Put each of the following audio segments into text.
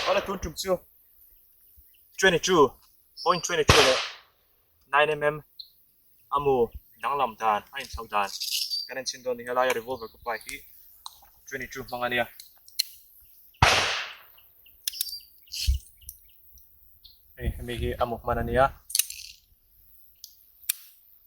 Ala tun tum chu 22.22 leh 9mm amu danglam dan a inchho dan kan en chhin dawn nih helai a revolver ka pa hi 22 hmang ania hei hemi hi amu hman ania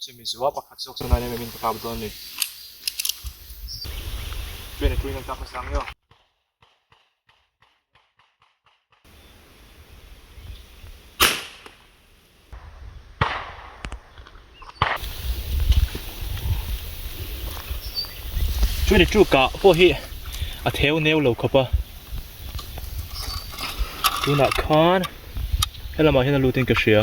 Chumi chu a pakhat zawk chuan ania min ka kap dawn ni. Chuan a tuinan ka hmu sang nio. Chuan a chu ka pawh hi a theu neu lo khawp a. Tunah khan helamah hian a lutin ka hria.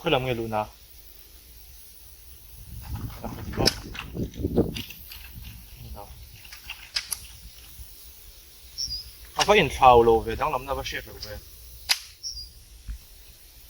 khoi lam nge lu na a va in thlau lo ve dang lam na va hriat lo ve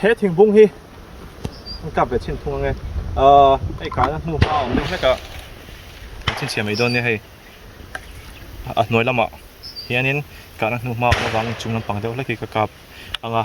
He thingpung hi an kap leh chhin thung ang e. Ahh, hei kahna hnu hma awm deuh hlek a an chhin chhiam mai dawn nia hei. A hnuai lamah hianin kahna hnu hma awm avangin chung lampang deuh hlek hi ka kap ang a.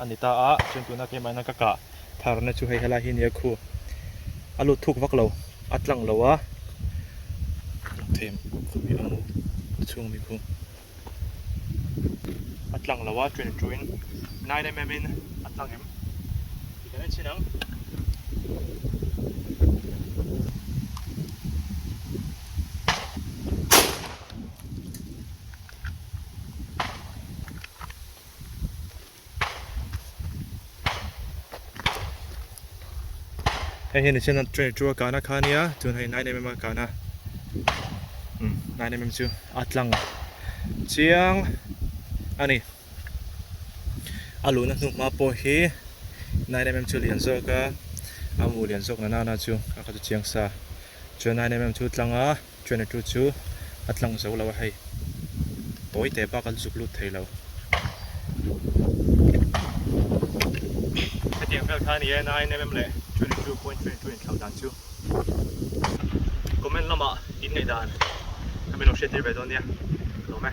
a ni ta a, chuan tuna keimah hian ka kah thar na chu hei helai hi a ni a khu, a lut thuk vak lo, a tlang lo a, rawng thei khawpui a mu a chhungmi khu a tlang lo a ṭuin ṭuin nine mm in a tlang em ti kan en chin ang. hei hian nihchenna three hundred two a kahna khan nia chuan hei nine mm a kahna umm nine mm chu a tlang chiang a ni a luhna hnuk hma pawh hi nine mm chu lian zawk a a hmu lian zawk na nana chu a kha chu chiang sa chuan nine mm chu tlang a. Chhuahna tu chu a tlang zo lo a hei. Tawi teh bak an zuk lut thei lo. Hetiang vel kha nia nine mm leh twenty two point twenty two inthlau dan chu comment lamah inneih dan khamin lo hriattir ve dawn nia hlawm e.